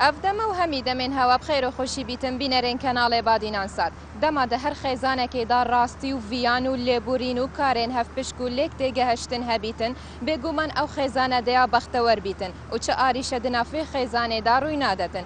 ئەڤ دەمە و هەمی دەمێن هەوە بخێر و خوشی بیتن بینەرێن کەناڵێ بادینان سات دەما دە هەر خێزانەکێ دا ڕاستی و ڤیان و لێبورین و کارێن هەڤ پشک و لێک تێگەهشتن هەبیتن بێگوومان ئەو خێزانە دەیا بەختەوەر بیتن و چ ئاریشە دنافێ خێزانێ دا ڕووی نادەتن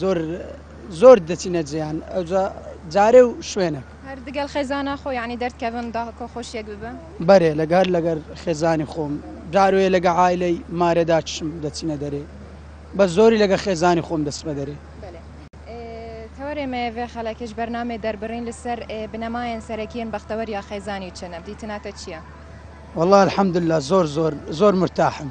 زۆر زۆر دەچینە جێیان ئەوجا جارێ و شوێنێک هەر دگەل خێزانە خۆ یعنی دەردکەون دا کۆ خۆشیەک ببە بەێ لەگەر لەگەر خێزانی خۆم جاروێ لەگە عیلەی مارێدا چشم دەچینە دەرێ بە زۆری لەگە خێزانی خۆم دەسمە دەرێ تەوەێ مەێ خەلەکش بەرنامێ دەربڕین لەسەر بنەمایەن سەرەکیین بەختەوەر یا خێزانی چنە دیتناتە چییە؟ والله الحمدللە زۆر زۆر زۆر مرتاحم.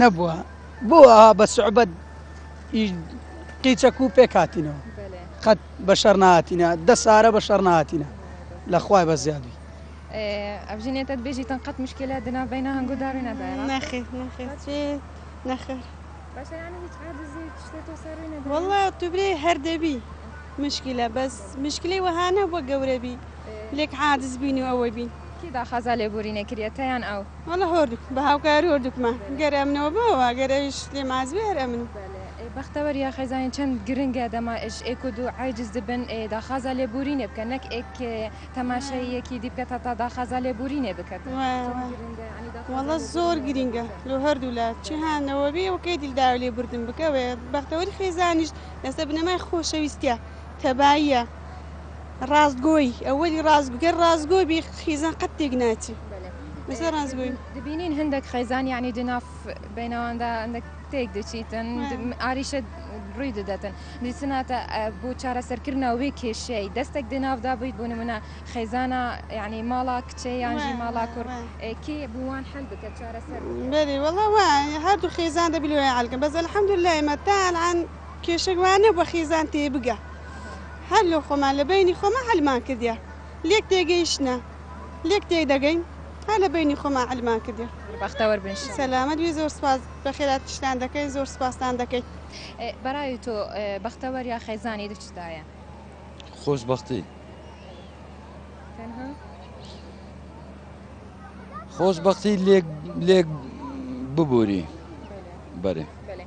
نەبووە بۆ ئاها بە سعبەت ئی قیچەک و پێک هاتینەوە بەلێ قەت بە شەر نهاتینە دە سارە بە شەر نهاتینە لە خوای بە زیادی اه، ئەڤژی نێتەت بێژی تەن قەت مشکلە دنا بەینا هەنگۆ داروینا دایرا نەخێر نەخێر چی نەخێر باشە یانی هیچ عادزی هیچ شتێ تۆ سەر روی نەداین؟ وەڵا تو برێ هەر دەبی مشکلە بەس مشکلەی وەها نەبووە گەورە بی. لێک عاجز بین و ئەوەی بین. کێ داخازا لێبوورینێ کریەتە یان ئەو؟ وەڵا هۆردوک بە هاوکاری هۆردوکمە گەر ئەمنەوە بەوە گەر ئەویش لێم عاجز بێ هەر ئەمنم. بەلێ ئێ بەختەوەر یا خێزانی چەند گرنگە دەما ئێش ئێ کود و عاجز دبن ئێ داخازا لێبوورینێ بکەن نەک ئێ کێ تەماشای یەکی دی بکەت هەتا داخازا لێبوورینێ بکەتن. وە وە وەڵا زۆر گرینگە لۆ هەردوو لا چ هان نەوە بێ و کەی دیل داوای لێبووردن بکە وێ بەختەوەری خێزانیش لەسە بنەمای خۆشەویستیا. تەباییە ڕاست گۆی ئەوەلی ڕاست گەر ڕاست گۆ بی خیزان قەت تێک ناچی بەسەر ڕاست گۆی دبینین هەندێک خیزان یعنی دناف بینەواندا هەندێک تێک دچیتن ئاریشە ڕووی دەدەتن دیسناتە بۆ چارەسەرکردنا وێ کێشەی دەستێک دناافدا بوویت بۆ نمونە خیزانە یعنی ماڵا کچێ یانژی ماڵا کوڕ کێ بووان حل بکە چارەسەر بەێ وڵە وایە هەردوو خێزان دەبیێ ئالکەم بەس الحمد لە ئێمە تاالان کێشەک وا نەبوە خێزان تێبگا هەر لۆ خۆمان لە بەینی خۆمان حەلمان کردیە لێک تێگەیشتنە لێک تێدەگەین هەر لە بەینی خۆمان حەلمان کردیە. بەختەوەر بن انشاللە. سەلامەت بی زۆر سوپاس بەخێرا تشتان دەکەین زۆر سوپاستان دەکەین. بەڕای تۆ بەختەوەر یا خێزانی لە چدایە؟ خۆشبەختی. تەنها. خۆشبەختی لێک لێک ببوری. بەلێ. بەلێ.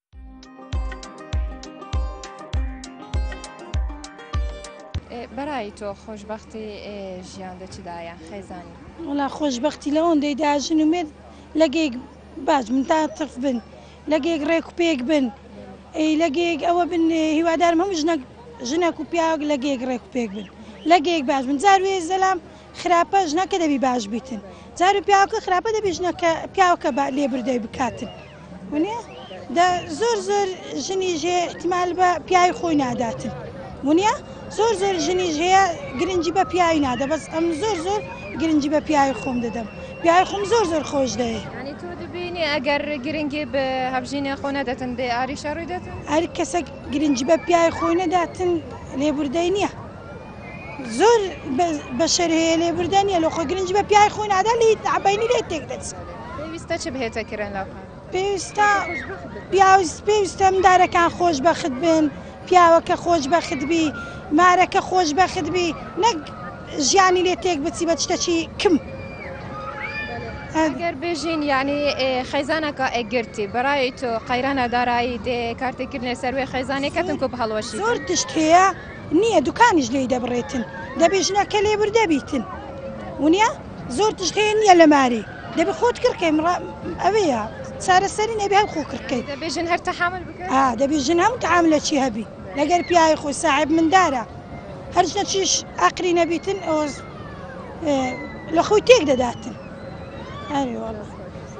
بەرای تۆ خۆشببختی ژیان دە چدایە خێزانی وڵا خۆشببختی لە ئەوەندەی داژن و مێت لەگەیک باش من تا تف بن لەگەیک ڕێک و پێک بن ئەی لەگەیک ئەوە بن هیوادارم هەموو ژنەک ژنەک و پیاوەک لەگەیک ڕێک و پێک بن لەگەیک باش من جار وێ زەلام خراپە ژنەکە دەبی باش بیتن جار و پیاوکە خراپە دەبی ژنەکە پیاوکە لێبردەی بکاتن. ونیە دە زۆر زۆر ژنی ژێ احتیمال بە پیاوی خۆی ناداتن ونیە زۆر زۆر ژنی ژەیە گرنگی بە پیاوی نادە بەس ئەم زۆر زۆر گرنگی بە پیاوی خۆم دەدەم پیاوی خۆم زۆر زۆر خۆش دەێ بینی ئەگەر گرنگی بە هەبژینە خۆ نەدەتن دێ ئاریشە ڕووی دەێت ئەر کەسە گرنگی بە پیاوی خۆی نەداتن لێبوردەی نییە زۆر بەشەر هەیە لێبوردە نیە لۆخۆ گرنج بە پیای خۆی نادا لی عبینی لێ تێک دەچێت پێویستە چ بهێتە کرن لە پێویستە پیاوز پێویستە مندارەکان خۆش بەخت بن پیاوەکە خۆش بەخت بی مارەکە خۆش بەخت بی نەک ژیانی لێ تێک بچی بە شتەکی کم ئەگەر بێژین یعنی خەیزانەکە ئەگرتی بەڕای تۆ قەیرانە دارایی دێ کارتێکردنێ سەروێ خەیزانەکەتم کۆ هەڵوەشی زۆر تشتەیە نیە دوکانیش لێی دەبڕێتن دەبێ ژنەکە لێ بردە بیتن ونیا زۆر تشت هەیە نیە لە ماری دەبێ خۆت کڕکەی مڕ ئەوەیە چارەسەری نەبێ هەم خۆ کڕکەی دەبێ ژن هەر تەحامل بکەن ئا دەبێ ژن هەم تەعام لە چی هەبی لەگەر پیاوی خۆی ساحب مندارە هەر ژنە چیش ئاقری نەبیتن ئەوز لە خۆی تێک دەداتن ئەری وەڵا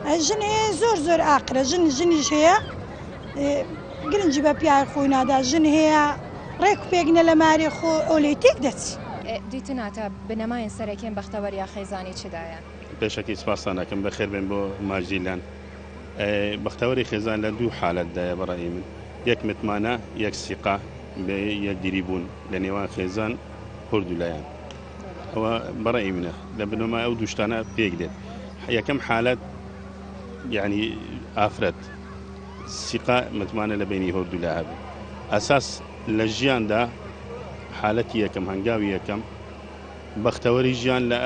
ئە ژن هەیە زۆر زۆر ئاقرە ژن ژنیش هەیە گرنگی بە پیاوی خۆی نادا ژن هەیە ڕێک و پێک نە لە مارێ خۆ ئەو لێی تێک دەچی. دیتن ئاتا بنەمایەن سەرەکین بەختەوەر یا خێزانی چدایە؟ پێشەکی سپاستان ئەکەم بەخێر بێن بۆ ماجدی لان بەختەوەری خێزان لە دوو حالەت دایە بە ڕەئی من یەک متمانە یەک سیقە بە یەکدیری بوون لە نێوان خێزان هوردوو لایان ئەوە بە ڕەئی منە لە بنەمای ئەو دوو شتانە پێک دێت یەکەم حالەت یانی ئافرەت سیقە متمانە لە بەینی هۆردولا هەبێ ئەساس لە ژیان دا حالەتی یەکەم هەنگاوی یەکەم بەختەوەری ژیان لە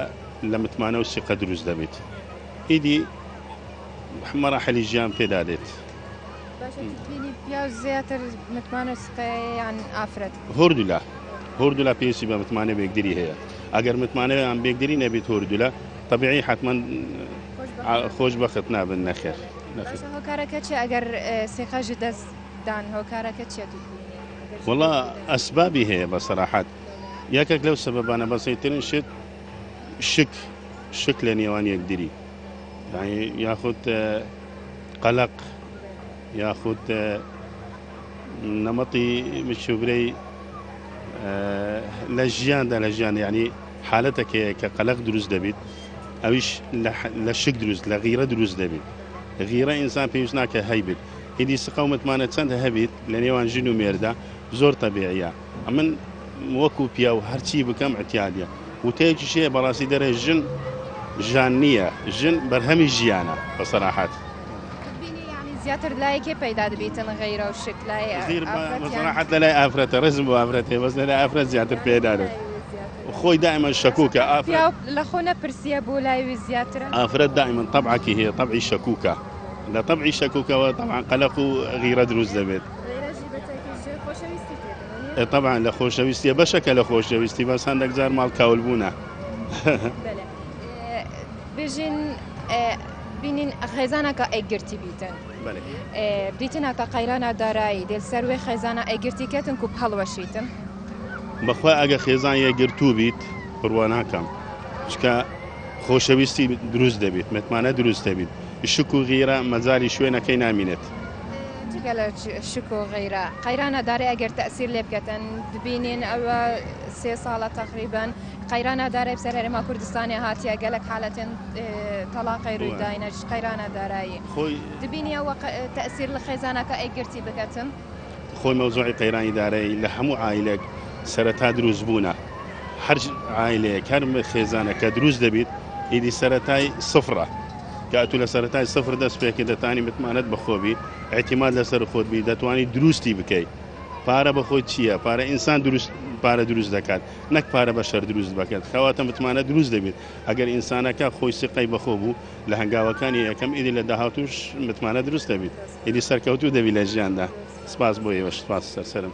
لە متمانە و سیقە دروست دەبێت ئیدی مەراحلی ژیان پێدا دێت زیاتر متمانە سقەیان ئافرەت هۆردولا هۆردولا پێویستی بە متمانە بێگدری هەیە ئەگەر متمانەیان بێگدری نەبێت هۆردولا طبیعی حتمما خۆش بەخت نابن نەخێر باشە هۆکارەکە چیە ئەگەر سێقەژی دەست دان هۆکارەکە چیە توکوینی وەڵا ئەسبابی هەیە بە سەراحەت یەکێک لەو سەبەبانە بەسەیترین شت شک شک لە نێوان یەکدری یاخود قەلق یاخود نەمەتی مشوبرەی لە ژیاندا لە ژیان ینی حالەتەکەیە کە قەلەق دروست دەبیت ئەویش لە شک دروست لە غیرە دروست دەبیت غیرە ئینسان پێویست ناکە هەیبیت هیدی سقە و متمانە چەند هەبیت لە نێوان ژن و مێردە زۆر تەبیعیە ئەمن وەکو پیاو هەرچی بکەم عتیادە وتەیەکی شەیە بەڕاستی دەرێ ژن ژان نییە ژن بەرهەمی ژیانە بە سەراحەت. زیاتر لای کێ پەیدا دەبیتن غیرە و شک لای غیر مەزەنەحەت لە لای ئافرەتە ڕێزم بۆ ئافرەتێ بەس لە لای ئافرەت زیاتر پێدارن خۆی دائما شەکوکە ئافرەت لە خۆ نەپرسیە بۆ لای وی زیاترە ئافرەت دائما طبعەکی هەیە طبعی شەکوکە لە طبعی شەکوکەوە طبعا قەلەق و غیرە دروست دەبێت طبعا لە خۆشەویستیە بەشەکە لە خۆشەویستی بەس هەندێک جار ماڵ کاول بوونە بژین بینین خێزانە کە ئەگرتی بیتن دیتنا کە قەیرانە دارایی دێل سەروێ خێزانە ئەگرتی کەتن و هەڵوەشیتن بەخوا ئەگە خێزان یەگرتوو بیت بڕوا ناکەم چکە خۆشەویستی دروست دەبێت متمانە دروست دەبیت شک و غیرە مەزاری شوێنەکەی نامینێت جگە لە شک و غیرە قەیرانە دارێ ئەگەر تەسیر لێ بکەن دبینێن ئەوە سێ ساڵە تەقریبن قەیرانە دارای بسەر هەرێما کوردستانێ هاتیە گەلەک حالەتێن تەڵاقەی روی داینە قەیرانە دارایی خۆی دبینیە وە تەسیر لە خێزانەکە ئەی گرتی بگەتن خۆی مەوزوعی قەیرانی دارایی لە هەموو ئایلێک سەرەتا دروست بوونە هەر ئایلەیە کارمە خێزانەکە دروست دەبیت ئیدی سەتای سفرە کاتو لە سەتای سفر دەست پێکە دەتانی متمانەت بەخۆبی ئەتیماد لەسەر خۆتبی دەتوانانی دروستی بکەیت پارە بەخۆی چییە پارە ئینسان دروست پارە دروست دەکات نەک پارە بە شەر دروست بەکەت کەواتە متمانە دروست دەبێت ئەگەر ئینسانەکە خۆی سیقەی بەخۆ بوو لە هەنگاوەکانی یەکەم ئیدی لە داهاتوش متمانە دروست دەبیت ئیدی سەرکەوتوو دەبی لە ژیاندا سپاس بۆ ئێوەش سپاس سەرسەرم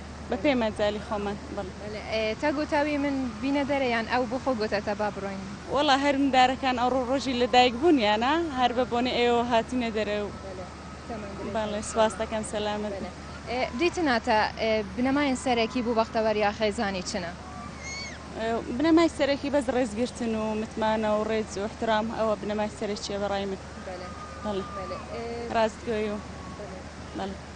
بە پێی مەجالی خۆمان بەڵێ. تا گۆتاوی من بینە دەرە یان ئەو بۆ خۆ گۆتاتە با بڕۆین؟ وەڵا هەر مندارەکان ئەڕۆ ڕۆژی لە دایک بوونیانە هەر بە بۆنەی ئێوەوە هاتینە دەرە و بەڵێ سوپاس دەکەم سەلامەت بن. دیتناتە بنەماین سەرەکی بو بەختەوەر یا خێزانی چنە؟ بنەمای سەرەکی بەس ڕێز گرتن و متمانە و ڕێز و احترام ئەوە بنەمای سەرەکیە بەڕای من بەڵێ ڕاستگۆی و بەڵێ.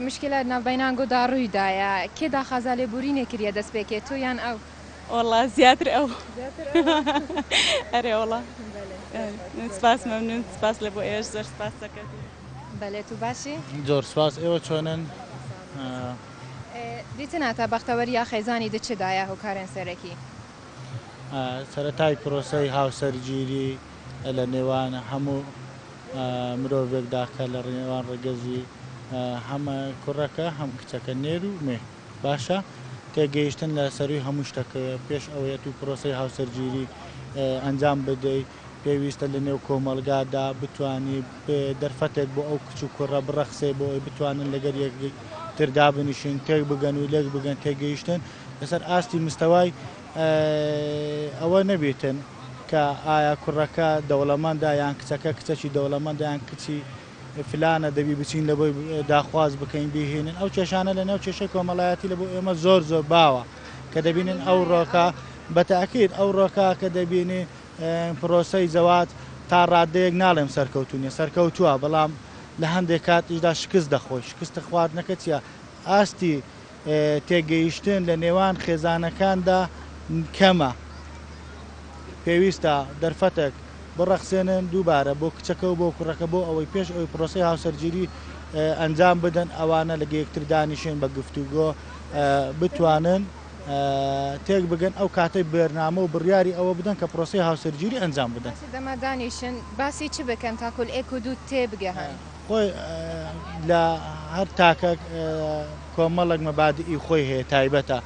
مشکلات نابینان گو دا روی دایە کێ داخازا لێبورینێ کریە دەس پێ کێ تۆ یان ئەو. وەڵا زیاتر ئەو ئەرێ وەڵا سپاس مەمنون سپاس لەبۆ ئێوەش زۆر سپاس سەکەتو. بەلێ تو باشی. زۆر سپاس ئێوە چۆنن. دیتناتە بەختەوەریا خێزانی د چ دایە هوکارێن سەرەکی. سەرەتای پرۆسەی هاوسەرگیری. لە نێوان هەموو مرۆڤێکدا کە لە نێوان ڕەگەزی هەم کوڕەکە هەم کچەکە نێر و مێ باشە تێگەیشتن لە سەروی هەموو شتەکە پێش ئەوەیە تو پرۆسی هاوسەرگیری ئەنجام بدەی پێویستە لە نێو کۆمەلگادا بتانی دەرفەتێک بۆ ئەو کچ و کوڕە بڕەخسێ بۆ ئەوی بتوانن لەگەر یەک تر دابنیشن تێک بگەن و لێک بگەن تێگەیشتن لەسەر ئاستی مستەوای ئەوە نەبێتن. کە ئایا کوڕەکە دەوڵەمەندە یان کچەکە کچەکی دەوڵەمەندە یان کچی فلانە دەبی بچین لە بۆی داخواز بکەین بیهینن ئەو کێشانە لە نێو کێشەی کۆمەڵایەتی لە بۆ ئێمە زۆر زۆر باوە کە دەبینن ئەو ڕۆکە بەتاکیت ئەو ڕۆکە کە دەبینی پرۆسەی زەوات تا ڕادەیەک ناڵێم سەرکەوتونیە سەرکەوتووە بەڵام لە هەندێک کات ئیشدا شکست دەخۆی شکستە خواردنەکە چیە ئاستی تێگەیشتن لە نێوان خێزانەکاندا کەمە پێویستە دەرفەتێک بڕەخسێنن دووبارە بۆ کچەکە و بۆ کوڕەکە بۆ ئەوەی پێش ئەوی پرۆسی هاوسەرگیری ئەنجام بدەن ئەوانە لە گەیەکتر دانیشێن بە گفتوگۆ بتوانن تێک بگەن ئەو کاتەی بێرنامە و بڕیاری ئەوە بدەن کە پرۆسی هاوسەرگیری ئەنجام بدەن دەمە دانیشن باسی چ بکەن تاکل ئێک و دوو تێبگەهن. خۆ لە هەر تاکەک کۆمەڵێک مەبادئی خۆی هەیە تایبەتە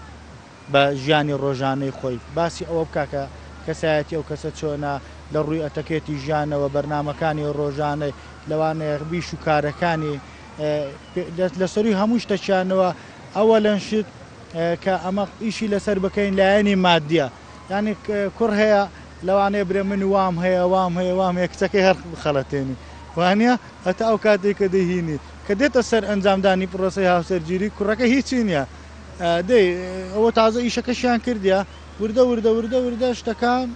بە ژیانی ڕۆژانەی خۆی باسی ئەوە بکە کە کەسایەتی ئەو کەسە چۆنە لە ڕووی ئەتەکێتی ژیانەوە بەرنمەکانی ڕۆژانەی لەوانەیە بیش و کارەکانی لە سەروی هەموو شتەکیانەوە ئەوە لەنشت کە ئەمە ئیشی لەسەر بکەین لایەنی مادیە ینی کوڕ هەیە لەوانەیە برێ من وام هەیە وام هەیە وام هەیە کچەکەی هەر بخەڵەتێنی وانیە؟ هەتا ئەو کاتەی کە دەیهینی، کە دێتە سەر ئەنجامدانی پڕۆسەی هاوسەرگیری، کوڕەکە هیچی نیە. دەی ئەوە تازە ئیشەکەشیان کردیە. وردە وردە وردە وردە شتەکان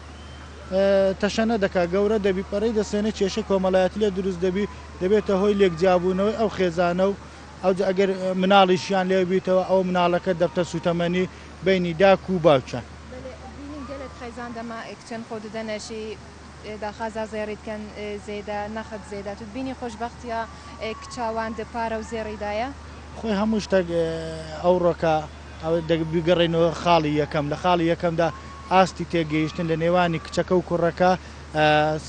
تەشەنە دەکا، گەورە دەبی، پەرەی دەسێنێ، کێشەی کۆمەلایەتی لێ دروست دەبی، دەبێتە هۆی لێک جیابوونەوەی ئەو خێزانە و ئەوجا ئەگەر مناڵیشیان لێ بیتەوە ئەوە مناڵەکە دەبتە سوتەمەنی بەینی داک و باوکیان. بەلێ بینیم گەلەک خێزان دەما ئێک چەن خۆ ددەنەشی داخا زا زێڕیت کەن زێدە نەخت زێدە توت بینی خۆشبەختیا کچا وان دە پارە و زێڕی دایە. خۆی هەموو شتەک ئەوڕۆکە ئەوە دەک بیگەڕێینۆ خاڵی یەکەم لە خاڵی یەکەمدا ئاستی تێگەیشتن لە نێوانی کچەکە و کوڕەکە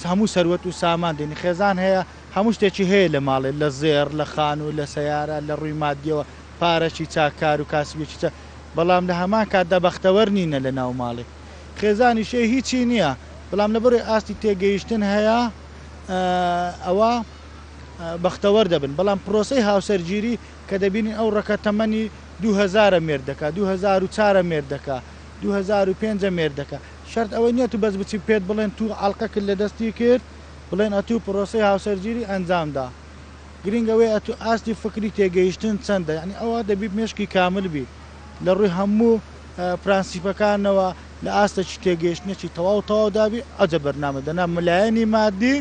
هەموو سەروەت و سامان دێنی خێزان هەیە هەموو شتێکی هەیە لە ماڵێ لە زێڕ لە خانوو لە سەیارە لە ڕووی مادیەوە پارەکی چاک کار و کاسبێکی چاک بەڵام لە هەمان کاتدا بەختەوەر نینە لە ناو ماڵێ. خێزانی شێ هیچی نیە بەڵام لەبەرۆی ئاستی تێگەیشتن هەیە ئەوە بەختەوەر دەبن بەڵام پرۆسی هاوسەرگیری کە دەبینین ئەو ڕەکە تەمەنی دوهزارە مێرد دەکا دوهزار و چارە مێرد دەکا دوهزار و پێنجە مێرد دەکا شەرت ئەوەی نیە تو بەس بچی پێت بڵێن تو عەڵقەکت لە دەستی کرد بڵێن ئەتو پرۆسی هاوسەرگیری ئەنجامدا گرینگەوەی ئەتو ئاستی فکری تێگەیشتن چەندە یانی ئەوە دەبی مێشکی کامل بی لە ڕووی هەموو پرەنسیپەکانەوە لە ئاستەکی تێگەیشتنێکی تەواو تەواو دابی ئەجە بەرنامە دەنا ملایەنی مادی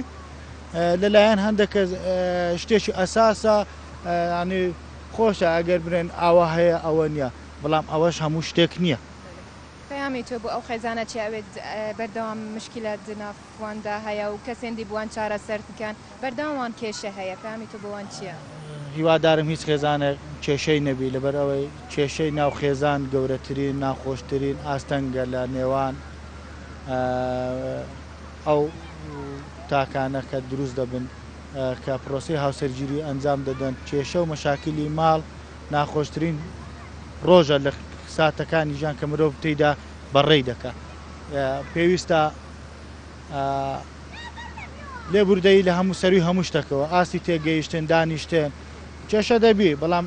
لەلایەن هەندێک شتێکی ئەساسە ینی خۆشە ئەگەر برێن ئاوا هەیە ئەوە نییە بەڵام ئەوەش هەموو شتێک نییە. پەیامی تۆ بۆ ئەو خێزانە چیە ئەوێت بەردەوام مشکیلە دناف؟ وان دا هەیە و کەسێن دی بوان چارەسەر دکەن بەردەوام وان کێشە هەیە پەیامی تۆ بۆ وان چیە؟ هیوادارم هیچ خێزانێک کێشەی نەبی لەبەر ئەوەی کێشەی ناو خێزان گەورەترین ناخۆشترین ئاستەنگە لە نێوان ئەو تاکانە کە دروست دەبن کە پرۆسی هاوسەرگیری ئەنجام دەدەن کێشە و مەشاکلی ماڵ ناخۆشترین ڕۆژە لە ساتەکانی ژان کە مرۆڤ تێیدا بەڕێی دەکە پێویستە لێبوردەیی لە هەموو سەرووی هەموو شتەکەوە، ئاستی تێگەیشتن، دانیشتن، کێشە دەبی، بەڵام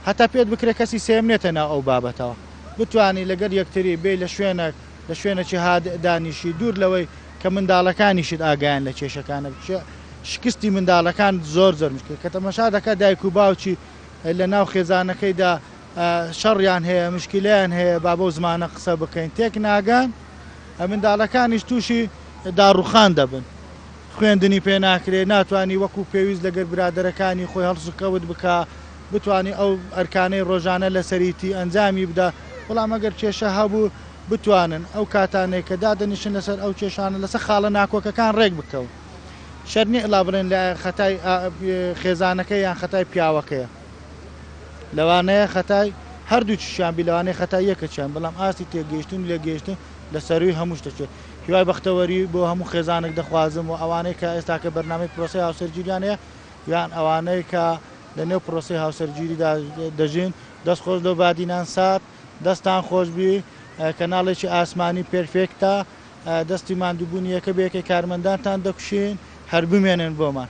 هەتا پێت بکرێ کەسی سێیەم نێتە ناو ئەو بابەتەوە، بتوانی لەگەل یەکتری بێی لە شوێنەک، لە شوێنەکی هادئ دانیشی، دوور لەوەی کە منداڵەکانیشت ئاگایان لە کێشەکانت بچێ، شکستی منداڵەکان زۆر زۆر مشکلە، کە تەمەشا دەکا دایک و باوکی لە ناو خێزانەکەیدا، شەڕیان هەیە مشکیلەیان هەیە با بەو زمانە قسە بکەین تێک ناگەن منداڵەکانیش تووشی داڕوخان دەبن خوێندنی پێ ناکرێ ناتوانانی وەکو پێویست لەگەر برادەرەکانی خۆی هەڵسوکەوت بکە بتانی ئەو ئەرکانەی ڕۆژانە لەسەریتی ئەنجامی بدە بەڵام ئەگەر کێشە هەبوو بتوانن ئەو کاتانێک کە دادەنیشن لەسەر ئەو کێشانە لەسەر خاڵە ناکۆکەکان ڕێک بکەون شەرنی ئەلا بڵێن لە خەتای خێزانەکە یان خەتای پیاوەکەیە. لەوانەیە خەتای هەردووکیشیان بی لەوانەیە خەتای یەکەکیان بەڵام ئاستی تێگەیشتن و لێکگەیشتن لە سەرووی هەموو شتەکێ هیوای بەختەوەری بۆ هەموو خێزانەک دەخوازم و ئەوانەی کە ئێستاکە بەرنامەی پرۆسەی هاوسەرگیریان هەیە یان ئەوانەی کە لەنێو پرۆسەی هاوسەرگیریدا دەژین دەست خۆش لەو بادینان سات دەستان خۆش بی کەناڵێکی ئاسمانی پێرفێکتە دەستی ماندووبوونی یەکە بە یەکەی کارمەندانتان دەکوشین هەر بمێنن بۆمان.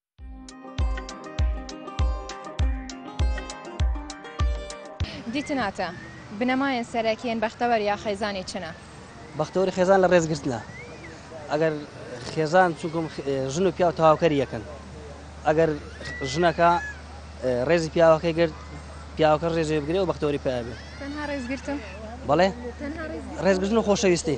دیتناتە، بنەمایەن سەرەکیەن بەختەوەر یا خێزانی چنە؟ بەختەوەری خێزان لە ڕێزگرتنە، ئەگەر خێزان چونکم ژن و پیاو تەواوکەری یەکەن ئەگەر ژنەکە ڕێزی پیاوەکەی گرت پیاوەکە ڕێزێ بگرێ و بەختەوەری پێ بێت تەنها ڕێزگرتن بەڵێ تەنها ڕێز ڕێزگرتن و خۆشەویستی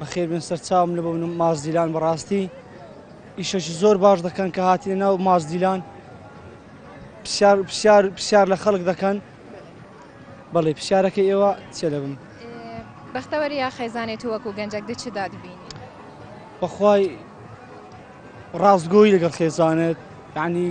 بەخێر بێن سەرچاوم لە بۆن ماس دیلان بەڕاستی ئیشەکی زۆر باش دەکەن کە هاتیە ناو ماس دیلان پرسیار پرسیار پرسیار لە خەڵک دەکەن بەڵێ پرسیارەکە ئێوە چێ دەبم بەختەوەری یا خێزانێت و وەکو گەنجەک دچ دادبین بەخوای ڕاستگۆی لەگەڵ خێزانێت ینی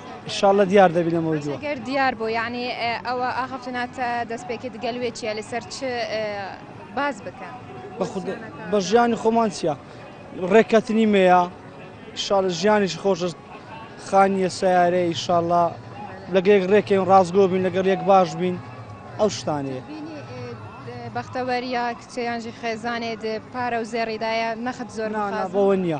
ئیشاڵلە دیار دەبی لەمەوە دوو. گەر دیار بۆ یعنی ئەوە ئاخفتناتە دەست پێکت گەل وێ چیە لەسەر چ باز بکە بە ژیانی خۆمان چیە ڕێککەتنی مەیە شار ژیانیش خۆشت خانیە سیارەیە ئیشاڵە لەگەێک ڕێکەین ڕاستگۆ بین لەگەڵ یەک باش بین ئەو شتانێ. بەختەوەریە کچیانژی خێزانێت پارە و زێڕیدایە نەخت زۆر بەوە نییە.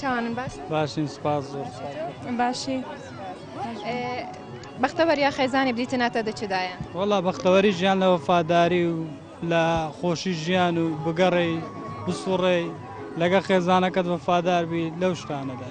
تاوانم باش باشین سپاس زۆر باشی بەختەوەر یا خێزانانی بریتە ناتە دەچدایە وڵا بەختەوەری ژیان لە وەفاداری و لە خۆشی ژیان و بگەڕێی بسوڕێ لەگە خێزانەکەت وەفادار بی لەو شتانەدا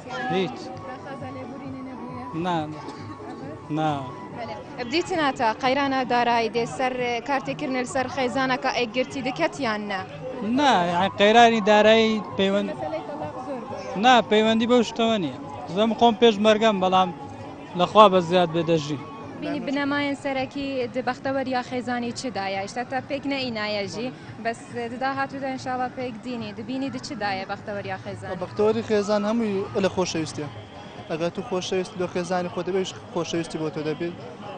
هیچ بدیتناتە قەیرانە دارایی دێ سەر کارتێکردنە سەر خێزانەکە ئەگرتی دکەتیان نا نا قەیرانی دارایی پەیوەند نا پەیوەندی بەو شتەوە نیە زەم خۆم پێش مەرگەم بەڵام لەخوا بە زیاد بێ دەژی بینی بنەمایەن سەرەکی دبەختەوەریا خێزانی چدایە شتا پێک نەئینایەژی بەس ددا هاتوودا ان شاء اللە پێک دینی دبینی دچ دایێ بەختەوەریا خێزانی. بەختەوەری خێزان هەمووی الە خۆشەویستیە ئەگەر تو خۆشەویست بە خێزانی خۆت ئەویش خۆشەویستی بۆ تۆ دەبێت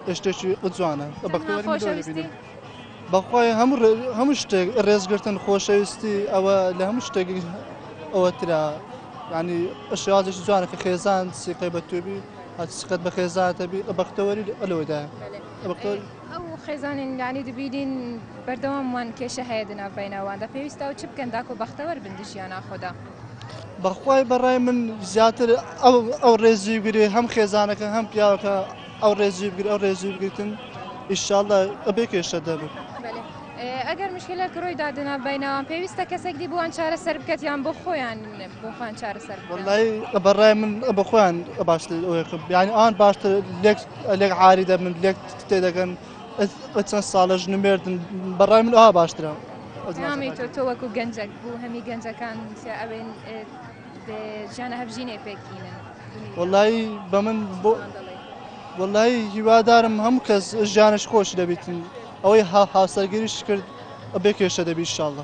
ئەش شتێکی جوانە بەختەوەری مرۆ تەنها دەبینی. خۆشەویستی بەخوای هەموو ڕێ- هەموو شتێک ڕێزگرتن خۆشەویستی ئەوە لە هەموو شتێک ئەوە ترا یعنی شێوازێکی جوانە کە خێزان سیقەی بە توێبی هەچ سقەت بە خێزانتەبی بەختەوەری الەوەدایە بەلێ. بەختەوەری. ئەو خێزانین یانی دبینین بەردەوام وان کێشە هەیە دناو بەینە واندا پێویستە و چ بکەن داکۆ بەختەوەر بن دژی یا ناخۆدا؟ بەخوای بەڕای من زیاتر ئەو ڕێزوی بگرێ هەم خێزانەکە هەم پیاوەکە ئەو ڕێزوی بگر ئەو ڕێزوی بگرتن ئیشاڵە ئەبێ کێشە دەبن. ئەگەر مشکلە کرۆی دادنا بینەوان پێویستە کەسێک دی بووان چارە سەر بکەت یان بۆ خۆیان بۆخوان چارە سەر بەڕای من بە خۆیان باشتر بیانی ئان باشتر لێک عاری دەبن لێک تێدەگەن بە چەند ساڵە ژن و مێردن بەڕای من ئەوها باشترە نامی تۆ تۆ وەکو گەنجەک بوو هەمی گەنجەکان ئەوێن ژیانە هەبژینێ پێکینن وڵی بە من بۆ وڵی هیوادارم هەموو کەس ژیانش خۆش دەبیتن ئەوەی هاوسەرگیریش کرد بێکێشە دەبی شاڵە